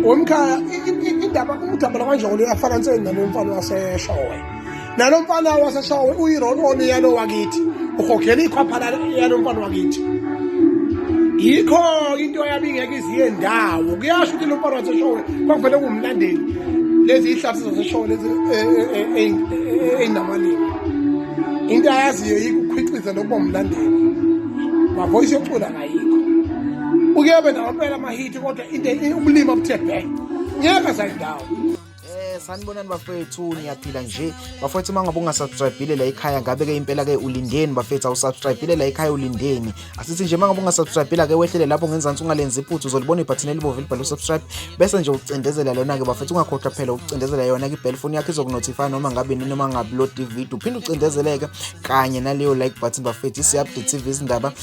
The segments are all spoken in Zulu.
womkhaya indaba umdabala kwanjoko leyo afana nseni nalo mfana waseshowe nalo mfana waseshowe uyirononi yalo wakithi uhogela ikhwapha yalo mfana wakithi yikho into yabe ingeke iziye ndawo kuyasho ukuthi lo mfana waseshowe kwakuvele kumlandeli lezi ihlathi zaseshowe lezi ey'namalini into ayaziyo yikukhwiqiza lokuba mlandeli mavoyisi yocula uyobe nawapela amahithi kodwa into ubulima obuthe bhe ngeke zayindawo eh, sanibonani bafethu niyaphila nje bafethu uma ngabe ungasubscribile la ekhaya ngabe ke impela ke ulindeni bafethu awusubscribile la ekhaya ulindeni asithi nje uma ngabe ungasubscribile ke wehlele lapho ngenzansi ungalenzi iphuthu uzolibona ibhathini elibomvu elibhalwe usubscribe bese nje ucindezela lona ke bafethu ungakhohlwa phela ukucindezela yona ke bell phone yakho izokunotify noma ngabe nini noma ngabe upload video uphinde ucindezeleke kanye naleyo like button bafethu isiupdate TV izindaba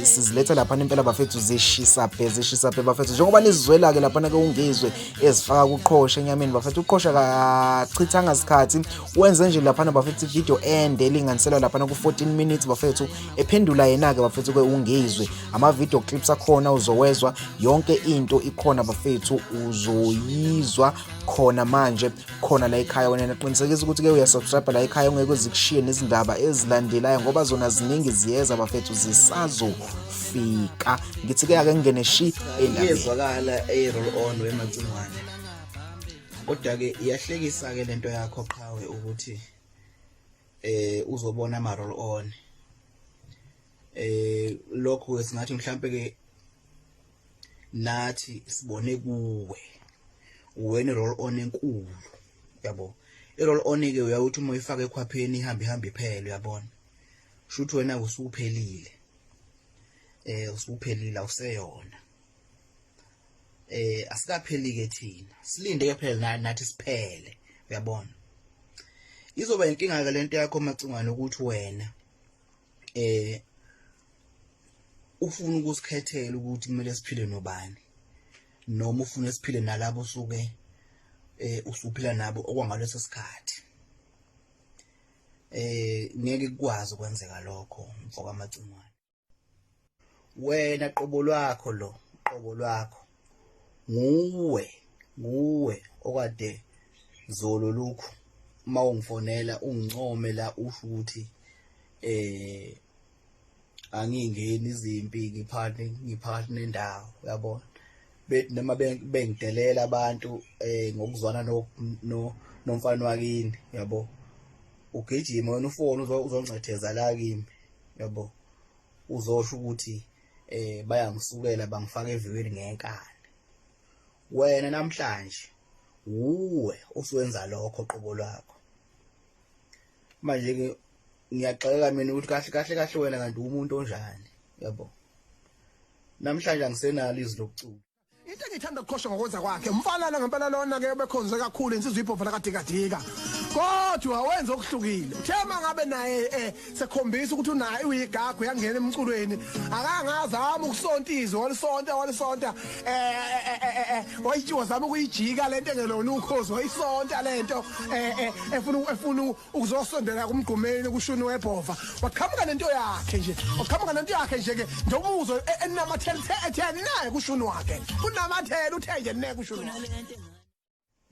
siziletha laphana impela bafethu zishisa phe zishisa phe bafethu njengoba nizizwela-ke laphana ke ungizwe ezifaka kuqhosha enyameni bafethu uqhosha kachithanga sikhathi wenze nje laphana bafethu ividiyo ende elinganiselwa laphana ku-14 minutes bafethu ephendula yena-ke bafethu ke ungizwe amavidiyo clips akhona uzowezwa yonke into ikhona bafethu uzoyizwa khona manje khona la ekhaya wena naqinisekisa ukuthi ke uyasubscribe la ekhaya ungeke uzikushiye nezindaba ezilandelayo ngoba zona ziningi ziyeza bafethu zisazofika ngithi ke ake ngene shi endabezwakala eroll on wemacingwane kodwa ke iyahlekisa ke lento yakho qhawe ukuthi eh uzobona ama roll on eh lokho singathi mhlambe ke nathi sibone kuwe uwena role on enkulu yabo irole on ke uyawuthi uma uyifaka ekhwapheni ihambe ihambe iphele uyabona shuthi wena usuphelile eh usuphelile awuseyona eh asikapheli ke thina silinde ke phela nathi siphele uyabona izoba inkinga ke lento yakho macingwane ukuthi wena eh ufuna ukusikhethela ukuthi kumele siphile nobani noma ufuna siphile nalabo suke eh usuphila nabo okwangaleso sikhathi eh ngeke kukwazi kwenzeka lokho mfoka macingwane wena qobo lwakho lo qobo lwakho nguwe nguwe okade zolo lokhu uma ungifonela ungincome la usho ukuthi eh angingeni izimpi ngiphane ngiphakathi nendawo uyabona bethi noma bengidelela abantu eh ngokuzwana no nomfana wakini yabo ugijima wena ufoni uzongcetheza la kimi yabo uzosho ukuthi eh bayangisukela bangifaka eviweni ngenkani wena namhlanje wuwe usuwenza lokho qobo lwakho manje ke ngiyaxolela mina ukuthi kahle kahle kahle wena kanti umuntu onjani yabo namhlanje angisenalo izwi lokucula Into engithanda ukukhosha ngokwenza kwakhe umfana ngempela lona ke bekhonze kakhulu insizwa ibhova lakadikadika kodwa wenza okuhlukile uthe uma ngabe naye eh, sekhombisa ukuthi unaye uyigagu yangena emculweni akangazama ukusonta izwi walisonta walisonta eh, eh, eh, eh wayitshiwa zama ukuyijika lento engelona ukhozi wayisonta lento efuna efuna ukuzosondela kumgqumeni kushuni webhova waqhamuka nento yakhe nje waqhamuka nento yakhe nje ke ndobuzo e-, enamathela ethe naye kushuni wakhe unamathela uthe nje ne kushuni wakhe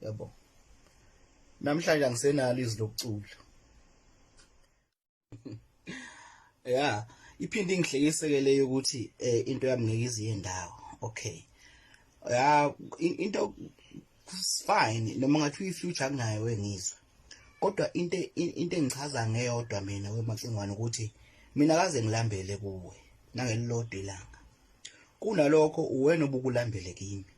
yabo namhlanje angisenalo izwi lokucula ya iphinde ingihlekiseke leyo ukuthi eh, into yami ngeke iziye ndawo okay ya into fine noma ngathi uyi future kunayo engizwe kodwa into into engichaza ngeyodwa mina wemacingwane ukuthi mina kaze ngilambele kuwe nangelilodwa ilanga kunalokho uwena obukulambele kimi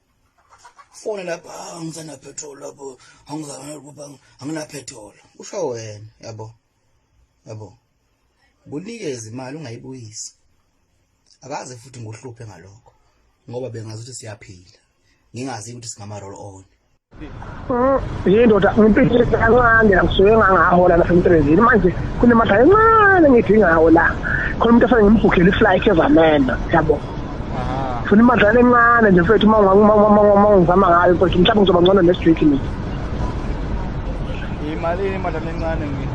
fone lapha ah, angisana petrol lapho angizana lapha angina petrol usho wena yabo yabo kunikeze imali ungayibuyisi akaze futhi ngohluphe ngalokho ngoba bengazi ukuthi siyaphila ngingazi ukuthi singama roll on yindoda ngimpilile kancane ngisuke ngangahola lapha emsebenzini manje kunemali encane ngidingawo la khona umuntu afane ngimbhukhele iflight ezamena yabo funa imadlana encane nje mfethu uma ungizama ngayo mfethu mhlawumbe ngizoba ngcono nestriki mina yimalini imadlana encane mina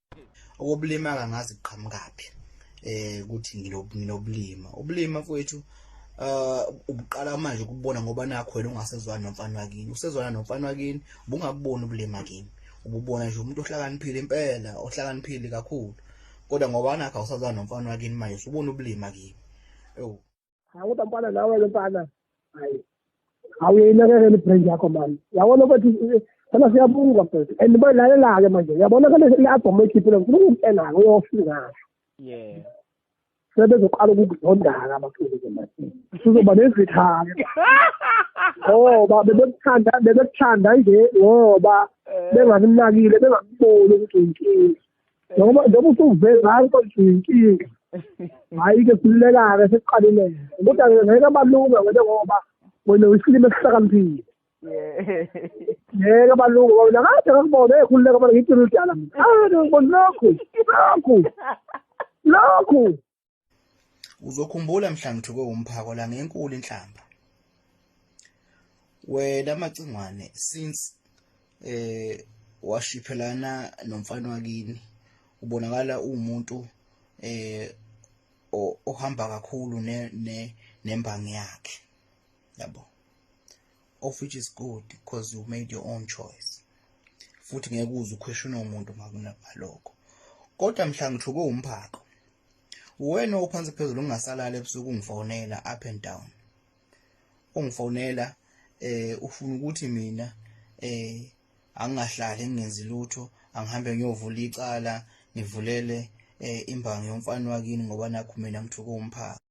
okobulima kangazi kuqhamukaphi eh ukuthi nginobulima ubulima mfowethu uh ubuqala manje ukubona ngoba nakho wena ungasezwana nomfana wakini usezwana nomfana wakini ubungabuboni ubulima kimi ububona nje umuntu ohlakaniphile impela ohlakaniphile kakhulu kodwa ngoba nakho awusazwana nomfana wakini manje usubona ubulima kimi ewu hayi kodwa mfana nawe ke mfana hayi awuyinakekela ibrain yakho mani yabona ukuthi sana siyabunga mfethu and bayilalela-ke manje uyabona kale le-albhamu oyikhiphile ngifuna ukukutshela-ke uyofika yeah sebezoqala ukukuzondaka abaculi-ke manje sizoba nezithake ngoba bebekuthanda bebekuthanda nje ngoba eh. bengakunakile bengakuboni ukuthi uyinkinga noma noma usuvele nanko inkinga hayi ke silulekake sesiqalile kodwa ke ngeke abalunga ngeke ngoba wena uyisilima esihlakaniphile ngeke abalunga ngoba wena kade ngakubona ekhululeka bona ngithi uludala mina ah ngibona lokhu lokhu lokhu Uzokhumbula mhla ngithuke umphako la ngenkulu inhlamba. Wena macingwane since eh washiphelana nomfana wakini ubonakala uwumuntu eh ohamba kakhulu ne ne nembangi yakhe yabo of which is good because you made your own choice futhi ngeke uze ukhweshune umuntu makunalokho kodwa mhla ngithuke umphako wena ophansi phezulu ungasalala ebusuku ungifonela up and down ungifonela eh ufuna ukuthi mina eh angingahlali ngingenzi lutho angihambe ngiyovula icala ngivulele eh imbangi yomfana wakini ngoba nakho mina ngithuka umphaka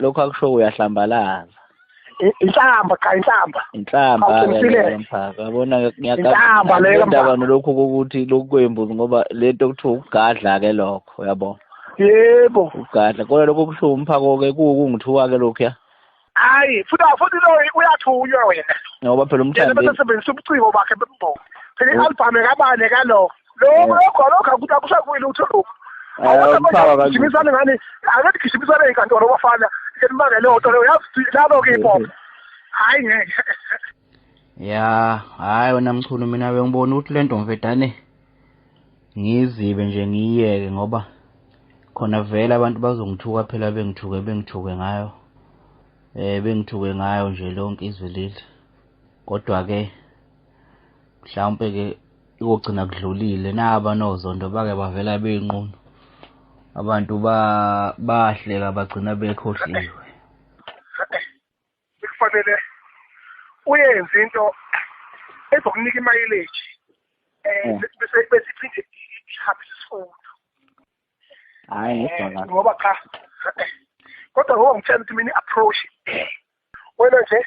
lokhu akusho uyahlambalaza inhlamba cha inhlamba inhlamba mphaka yabona ngiyaqamba leyo ndaba nolokhu ukuthi lokhu kwembuzi ngoba lento kuthiwa ukugadla ke lokho yabo yebo ugadla kodwa lokho kubuhlungu umphako ke kungithuka ke lokhu ya hayi futhi futhi lo uyathunywa wena ngoba phela umthandi basebenzisa ubuciko bakhe bembongo phela i-albhamu ekabane kalo lokho lokho lokho akuthi akusakuyi lutho lokho awukugijimisane ngani angathi gijimisane enkantolo bafana elimangele oto leyo yazi labo-ke ipopo hhayi ngeke ya hhayi wena mchunu mina bengibona ukuthi le nto mvedane ngizibe nje ngiyiyeke ngoba khona vele abantu bazongithuka phela bengithuke bengithuke ngayo um bengithuke ngayo nje lonke izwe leli kodwa-ke mhlawumpe ke ikugcina kudlulile naba nozondo bake bavela beyinqunu abantu ba bahleka bagcina bekhohliwe kufanele uyenze into ezokunika imayileji eh hmm. bese bese iphinde ihabe isifundo hayi ngidonga eh, ngoba cha kodwa ngoba ngitshela ukuthi mina approach wena nje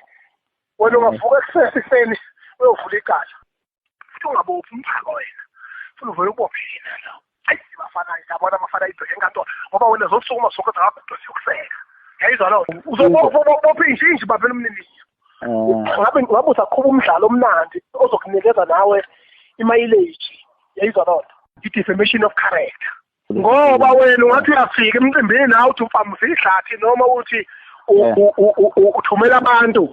wena ungavuka ekusesiseni uyovula icala futhi ungabophi umphako wena funa uvele ubophe yena lo ayi bafana yabona abafana ibheke enkantolo ngoba wena zosukuma sonke zakakudosi yokuseka yayizwa loo nto uzobopha injinji baphela umniniyo eh. ngabe ngabe usaqhuba umdlalo omnandi ozokunikeza nawe imayileji yayizwa loo nto i-defamation of character ngoba wena ungathi uyafika emcimbini nawe uthi ufamuse ihlathi noma uthi uthumela abantu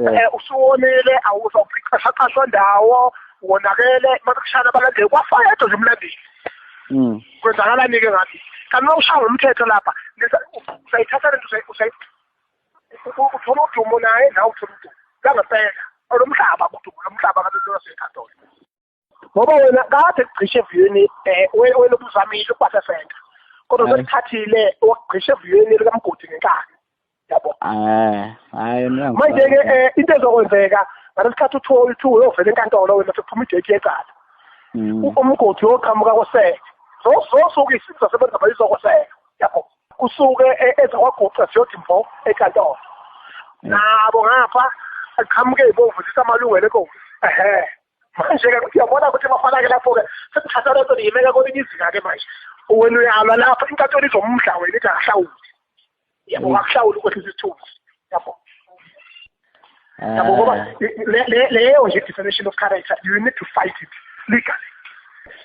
eh, usuwonile awuzawuqashaqashwa ndawo wonakele makushana abalandeli kwafayedwa nje umlandeli mm. kwenzakalani-ke ngathi kanti uma ushaya ngomthetho lapha usayithatha lento uthola udumo naye nawe uthola udumo langempela olomhlaba udumo lomhlaba kabelolaseyikhathola ngoba wena kade kugcishe eviyweni eh, wena ubuzamile ukubasefenda kodwa sekuthathile wakugcishe eviyweni likamgodi ngenkani yabo eh, hayi manje ke eh, into ezokwenzeka ngalesikhathi uthiwa uthiwa uyovela enkantolo wena sekuphuma idate yecala mm. umgodi woqhamuka koseke zozosuke isizwe sasebenza bayizokoseka yabo kusuke e-, ezakwaguqa siyodi mfo enkantolo nabo ngapha aqhamuke ibomvu sisamalungelo enkosi ehe manje-ke ukuthi uyabona ukuthi bafana-ke lapho-ke sekuthatha lento niyimeka kwelinye izinga-ke manje wena uyalwa lapho inkantolo izomudla wena ithi akahlawuli yabo mm. akahlawuli ukwehlisa isithunzi yabo ah. yabo ngoba leyo nje definition of character you need to fight it legally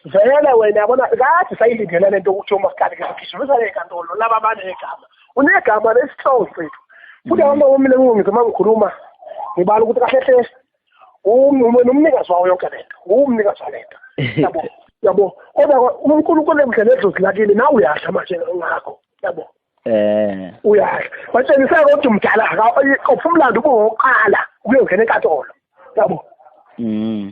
vele wena yabona kade sayilindele lento ukuthi umaskali ke sigijima usale enkantolo laba banegama unegama lesihlongo sethu futhi abantu bomile ngizoma ngikhuluma ngibala ukuthi kahle hle umnikazi wawo yonke lento umnikazi walento yabo yabo kodwa uNkulunkulu emdlela edlozi lakini nawe uyasha manje ngakho yabo eh uyasha watshengisa ukuthi umdala akaphi umlando ubuqala ukuyongena enkatolo yabo mm